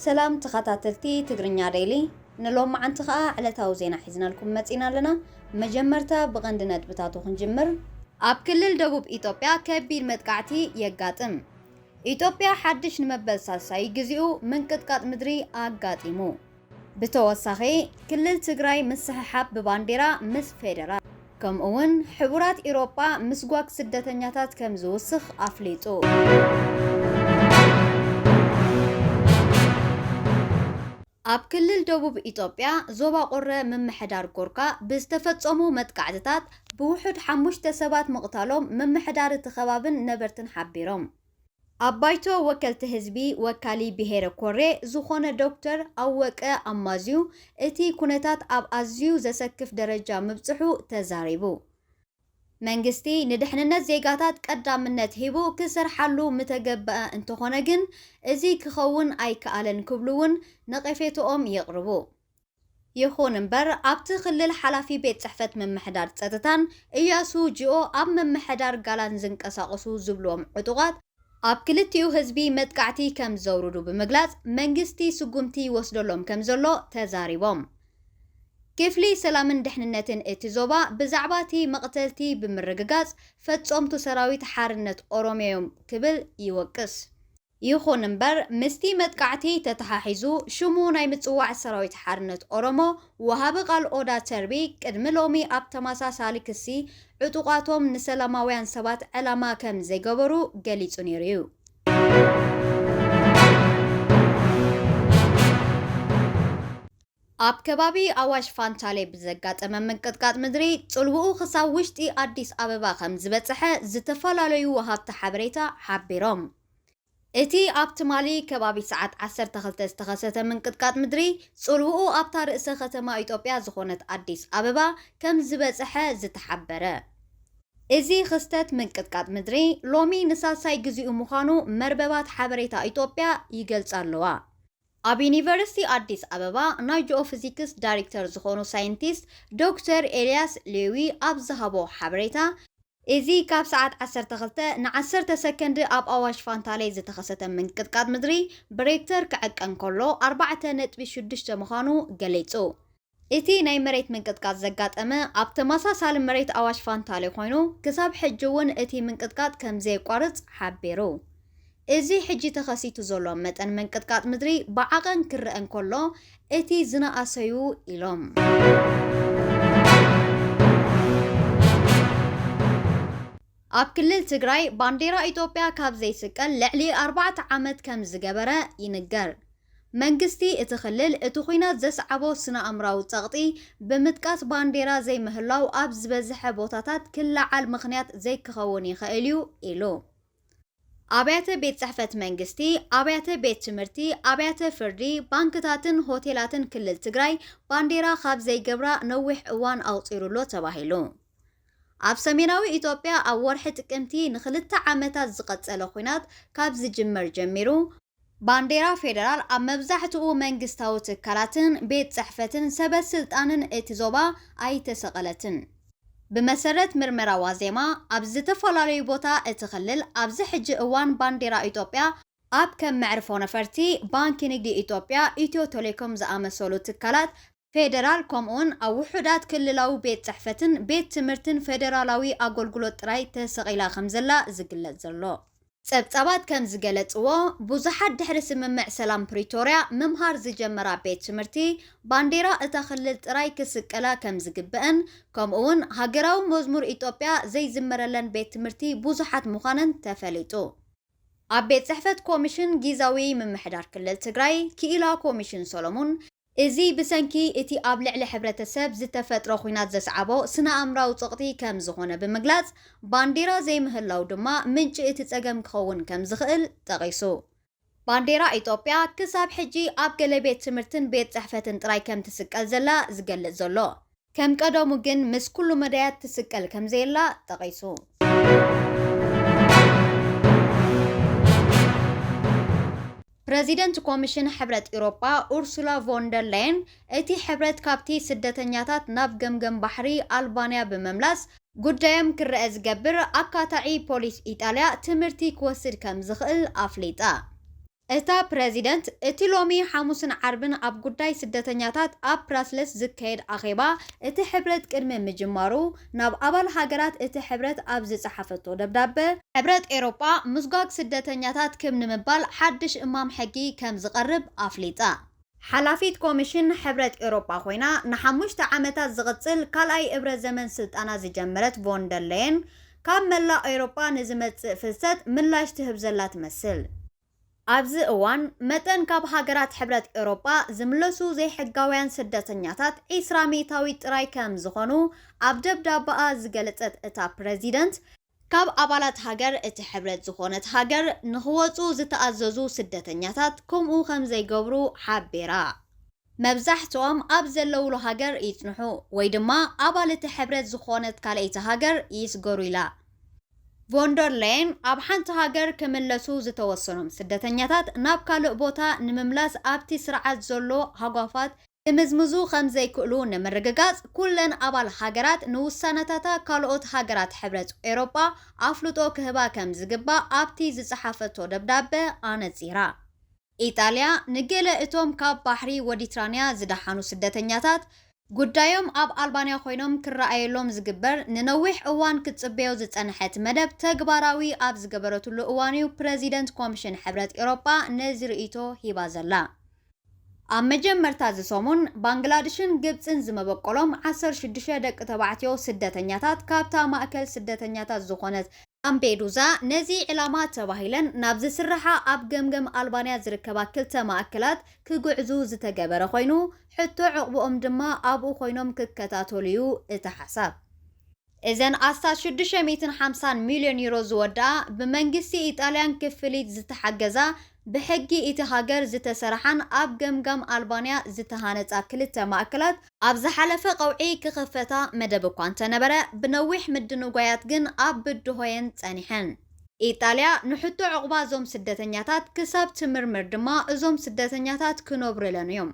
ሰላም ተኻታተልቲ ትግርኛ ደይሊ ንሎማዓንቲ ኸኣ ዕለታዊ ዜና ሒዝናልኩም መጺና ኣለና መጀመርታ ብቐንዲ ነጥብታቱ ክንጅምር ኣብ ክልል ደቡብ ኢትዮጵያ ከቢድ መጥቃዕቲ የጋጥም ኢትዮጵያ ሓድሽ ንመበል ሳልሳይ ግዚኡ ምንቅጥቃጥ ምድሪ ኣጋጢሙ። ብተወሳኺ ክልል ትግራይ ምስሕሓብ ብባንዴራ ምስ ፌደራል ከምኡ ውን ሕቡራት ኢሮጳ ምስጓግ ስደተኛታት ከም ዝውስኽ ኣፍሊጡ። ኣብ ክልል ደቡብ ኢትዮጵያ ዞባ ቁረ ምምሕዳር ጎርካ ብዝተፈፀሙ መጥቃዕትታት ብውሑድ ሓሙሽተ ሰባት ምቕታሎም ምምሕዳር እቲ ከባብን ነበርትን ሓቢሮም። ኣብ ባይቶ ወከልቲ ህዝቢ ወካሊ ብሄረ ኮሬ ዝኾነ ዶክተር ኣወቀ ኣማዝዩ እቲ ኩነታት ኣብ ኣዝዩ ዘሰክፍ ደረጃ ምብፅሑ ተዛሪቡ። መንግስቲ ንድሕንነት ዜጋታት ቀዳምነት ሂቡ ክሰርሓሉ ምተገበኣ እንተኾነ ግን እዚ ክኸውን ኣይከኣለን ክብሉ እውን ነቐፌትኦም የቕርቡ። ይኹን እምበር ኣብቲ ክልል ሓላፊ ቤት ፅሕፈት ምምሕዳር ፀጥታን እያሱ ጅኦ ኣብ ምምሕዳር ጋላን ዝንቀሳቐሱ ዝብሉዎም ዕጡቓት ኣብ ክልቲኡ ህዝቢ መጥቃዕቲ ከም ዘውርዱ ብምግላፅ መንግስቲ ስጉምቲ ይወስደሎም ከም ዘሎ ተዛሪቦም። ክፍሊ ሰላምን ደሕንነትን እቲ ዞባ ብዛዕባ እቲ መቕተልቲ ብምርግጋፅ ፈፀምቱ ሰራዊት ሓርነት ኦሮሚያ'ዮም ክብል ይወቅስ። ይኹን እምበር ምስቲ መጥቃዕቲ ተተሓሒዙ ሽሙ ናይ ምጽዋዕ ሰራዊት ሓርነት ኦሮሞ ወሃቢ ቃል ኦዳ ተርቢ ቅድሚ ሎሚ ኣብ ተመሳሳሊ ክሲ ዕጡቓቶም ንሰላማውያን ሰባት ዕላማ ከም ዘይገበሩ ገሊጹ ነይሩ እዩ። ኣብ ከባቢ ኣዋሽ ፋንታሌ ብዘጋጠመ ምንቅጥቃጥ ምድሪ ጽልውኡ ክሳብ ውሽጢ ኣዲስ ኣበባ ከምዝበጸሐ ዝተፈላለዩ ወሃብቲ ሓበሬታ ሓቢሮም። እቲ ኣብ ትማሊ ከባቢ ሰዓት ዓሰርተ ክልተ ዝተኸሰተ ምንቅጥቃጥ ምድሪ ጽልውኡ ኣብታ ርእሰ ከተማ ኢትዮጵያ ዝኾነት ኣዲስ ኣበባ ከምዝበጸሐ ዝተሓበረ እዚ ክስተት ምንቅጥቃጥ ምድሪ ሎሚ ንሳልሳይ ግዚኡ ምዃኑ መርበባት ሓበሬታ ኢትዮጵያ ይገልጻ ኣለዋ። ኣብ ዩኒቨርሲቲ ኣዲስ ኣበባ ናይ ጂኦፍዚክስ ዳሪክተር ዝኾኑ ሳይንቲስት ዶክተር ኤልያስ ሌዊ ኣብ ዝሃቦ ሓበሬታ፣ እዚ ካብ ሰዓት ዓሰርተ ክልተ ን ዓሰርተ ሰከንድ ኣብ ኣዋሽ ፋንታሌ ዝተኸሰተ ምንቅጥቃጥ ምድሪ ብሬክተር ክዕቀን ከሎ ኣርባዕተ ነጥቢ ሽዱሽተ ምዃኑ ገሊጹ። እቲ ናይ መሬት ምንቅጥቃጥ ዘጋጠመ ኣብ ተመሳሳሊ መሬት ኣዋሽ ፋንታሌ ኮይኑ፣ ክሳብ ሕጂ'ውን እቲ ምንቅጥቃጥ ከምዘየቋርጽ ሓቢሩ። እዚ ሕጂ ተኸሲቱ ዘሎ መጠን ምንቅጥቃጥ ምድሪ ብዓቐን ክረኣ እንከሎ እቲ ዝነኣሰ'ዩ ኢሎም። ኣብ ክልል ትግራይ ባንዴራ ኢትዮጵያ ካብ ዘይስቀል ልዕሊ ኣርባዕተ ዓመት ከምዝገበረ ይንገር። መንግስቲ እቲ ክልል እቲ ኹናት ዘስዓቦ ስነ-ኣምራዊ ፀቕጢ ብምጥቃስ ባንዴራ ዘይምህላው ኣብ ዝበዘሐ ቦታታት ክለዓል ምኽንያት ዘይክኸውን ይኸእል እዩ ኢሉ። ኣብያተ ቤት ፅሕፈት መንግስቲ፣ ኣብያተ ቤት ትምህርቲ፣ ኣብያተ ፍርዲ፣ ባንክታትን ሆቴላትን ክልል ትግራይ ባንዴራ ካብ ዘይገብራ ነዊሕ እዋን ኣቑፂሩ'ሎ ተባሂሉ። ኣብ ሰሜናዊ ኢትዮጵያ ኣብ ወርሒ ጥቅምቲ ንክልተ ዓመታት ዝቐፀለ ኹናት ካብ ዝጅመር ጀሚሩ፣ ባንዴራ ፌደራል ኣብ መብዛሕትኡ መንግስታዊ ትካላትን ቤት ጽሕፈትን ሰበ ስልጣንን እቲ ዞባ ኣይተሰቐለትን። ብመሰረት ምርመራ ዋዜማ፣ ኣብ ዝተፈላለዩ ቦታ እቲ ክልል ኣብዚ ሕጂ እዋን ባንዴራ ኢትዮጵያ፣ ኣብ ከም መዕርፎ ነፈርቲ፣ ባንኪ ንግዲ ኢትዮጵያ፣ ኢትዮ ቴሌኮም ዝኣመሰሉ ትካላት፣ ፌደራል ከምኡውን ኣብ ውሑዳት ክልላዊ ቤት ጽሕፈትን ቤት ትምህርትን ፌደራላዊ ኣጎልጉሎት ጥራይ ተሰቒላ ከም ዘላ ዝግለጽ ዘሎ። ጸብጻባት ከም ዝገለጽዎ፣ ብዙሓት ድሕሪ ስምምዕ ሰላም ፕሪቶርያ ምምሃር ዝጀመራ ቤት ትምህርቲ ባንዴራ እታ ክልል ጥራይ ክስቀላ ከም ዝግበእን ከምኡውን ሃገራዊ መዝሙር ኢትዮጵያ ዘይዝመረለን ቤት ትምህርቲ ብዙሓት ምዃነን ተፈሊጡ። ኣብ ቤት ጽሕፈት ኮሚሽን ጊዛዊ ምምሕዳር ክልል ትግራይ ክኢላ ኮሚሽን ሰሎሙን እዚ ብሰንኪ እቲ ኣብ ልዕሊ ሕብረተሰብ ዝተፈጥረ ኹናት ዘስዓቦ ስነ-ኣእምራዊ ጽቕጢ ከም ዝኾነ ብምግላጽ፣ ባንዴራ ዘይምህላው ድማ ምንጪ እቲ ጸገም ክኸውን ከም ዝኽእል ጠቒሱ። ባንዴራ ኢትዮጵያ ክሳብ ሕጂ ኣብ ገለ ቤት ትምህርትን ቤት ጽሕፈትን ጥራይ ከም ትስቀል ዘላ ዝገልጽ ዘሎ፣ ከም ቀደሙ ግን ምስ ኩሉ መዳያት ትስቀል ከምዘየላ ጠቒሱ። ፕረዚደንት ኮሚሽን ሕብረት ኤውሮጳ ኡርሱላ ቮን ደር ላየን እቲ ሕብረት ካብቲ ስደተኛታት ናብ ገምገም ባሕሪ ኣልባንያ ብምምላስ ጉዳዮም ክረኣ ዝገብር ኣካታዒ ፖሊስ ኢጣልያ ትምህርቲ ክወስድ ከምዝኽእል ኣፍሊጣ። እታ ፕረዚደንት፣ እቲ ሎሚ ሓሙስን ዓርብን ኣብ ጉዳይ ስደተኛታት ኣብ ብራስለስ ዝካየድ ኣኼባ እቲ ሕብረት ቅድሚ ምጅማሩ፣ ናብ ኣባል ሃገራት እቲ ሕብረት ኣብ ዝጸሓፈቶ ደብዳበ፣ ሕብረት ኤሮጳ፣ ምስጓግ ስደተኛታት ክብ ንምባል ሓድሽ እማም ሕጊ ከም ዝቐርብ ኣፍሊጣ። ሓላፊት ኮሚሽን ሕብረት ኤውሮጳ ኮይና ንሓሙሽተ ዓመታት ዝቕጽል ካልኣይ እብረ ዘመን ስልጣና ዝጀመረት ቮን ደር ለየን፣ ካብ መላእ ኤውሮጳ ንዝመጽእ ፍልሰት ምላሽ ትህብ ዘላ ትመስል። ኣብዚ እዋን፣ መጠን ካብ ሃገራት ሕብረት ኤውሮጳ ዝምለሱ ዘይሕጋውያን ስደተኛታት ዕስራ ሚእታዊት ጥራይ ከም ዝኾኑ ኣብ ደብዳበኣ ዝገለጸት እታ ፕረዚደንት፣ ካብ ኣባላት ሃገር እቲ ሕብረት ዝኾነት ሃገር ንኽወጹ ዝተኣዘዙ ስደተኛታት ከምኡ ከምዘይገብሩ ሓቢራ። መብዛሕትኦም ኣብ ዘለዉሉ ሃገር ይጽንሑ ወይ ድማ ኣባል እቲ ሕብረት ዝኾነት ካልኣይቲ ሃገር ይስገሩ ኢላ። ቮን ደር ሌየን ኣብ ሓንቲ ሃገር ክምለሱ ዝተወሰኖም ስደተኛታት ናብ ካልእ ቦታ ንምምላስ ኣብቲ ስርዓት ዘሎ ሃጓፋት ክምዝምዙ ከም ዘይክእሉ ንምርግጋጽ፣ ኩለን ኣባል ሃገራት ንውሳነታታ ካልኦት ሃገራት ሕብረት ኤውሮጳ ኣፍልጦ ክህባ ከም ዝግባእ ኣብቲ ዝጸሓፈቶ ደብዳበ ኣነጺራ። ኢጣልያ፣ ንገለ እቶም ካብ ባሕሪ ወዲትራንያ ዝደሓኑ ስደተኛታት፣ ጉዳዮም ኣብ ኣልባንያ ኮይኖም ክረኣየሎም ዝግበር ንነዊሕ እዋን ክትጽበዮ ዝጸንሐት መደብ ተግባራዊ ኣብ ዝገበረትሉ እዋን'ዩ ፕረዚደንት ኮምሽን ሕብረት ኤውሮጳ ነዚ ርእይቶ ሂባ ዘላ። ኣብ መጀመርታ እዚ ሰሙን፣ ባንግላድሽን ግብጽን ዝመበቆሎም ዓሰርተ ሽዱሽተ ደቂ ተባዕትዮ ስደተኛታት ካብታ ማእከል ስደተኛታት ዝኾነት ላምፔዱዛ ነዚ ዒላማ ተባሂለን ናብ ዝስርሓ ኣብ ገምገም ኣልባንያ ዝርከባ ክልተ ማእከላት ክግዕዙ ዝተገበረ ኮይኑ ሕቶ ዑቕብኦም ድማ ኣብኡ ኮይኖም ክከታተሉ'ዩ እቲ ሓሳብ። እዘን ኣስታት ሽዱሽተ ሚእትን ሓምሳን ሚልዮን ዩሮ ዝወድኣ ብመንግስቲ ኢጣልያን ክፍሊት ዝተሓገዛ ብሕጊ እቲ ሃገር ዝተሰራሓን ኣብ ገምጋም ኣልባንያ ዝተሃነጻ ክልተ ማእከላት፣ ኣብ ዝሓለፈ ቀውዒ ክኽፈታ መደብ እኳ እንተነበረ፣ ብነዊሕ ምድንጓያት ግን ኣብ ብድሆየን ጸኒሐን። ኢጣልያ ንሕቶ ዑቕባ እዞም ስደተኛታት ክሳብ ትምርምር ድማ እዞም ስደተኛታት ክነብሩለን እዮም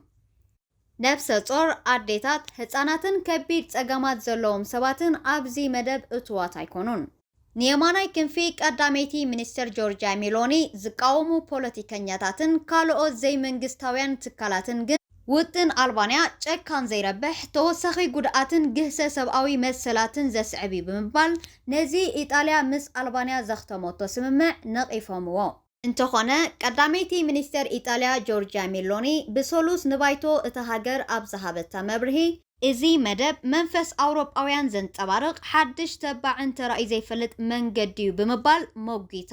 ነፍሰ ጾር ኣዴታት፣ ህጻናትን ከቢድ ጸገማት ዘለዎም ሰባትን ኣብዚ መደብ እቱዋት ኣይኮኑን። ንየማናይ ክንፊ ቀዳመይቲ ሚኒስተር ጆርጅያ ሚሎኒ ዝቃወሙ ፖለቲከኛታትን ካልኦት ዘይመንግስታውያን ትካላትን ግን፣ ውጥን ኣልባንያ ጨካን ዘይረብሕ፣ ተወሳኺ ጉድኣትን ግህሰ ሰብኣዊ መሰላትን ዘስዕብ'ዩ ብምባል ነዚ ኢጣልያ ምስ ኣልባንያ ዘኽተመቶ ስምምዕ ነቒፎምዎ። እንተኾነ ቀዳመይቲ ሚኒስተር ኢጣልያ ጆርጅያ ሚሎኒ ብሰሉስ ንባይቶ እታ ሃገር ኣብ ዝሃበታ መብርሂ፣ እዚ መደብ መንፈስ ኣውሮጳውያን ዘንጸባርቕ ሓድሽ ተባዕን ተራእዩ ዘይፈልጥ መንገዲ'ዩ ብምባል ሞጒታ።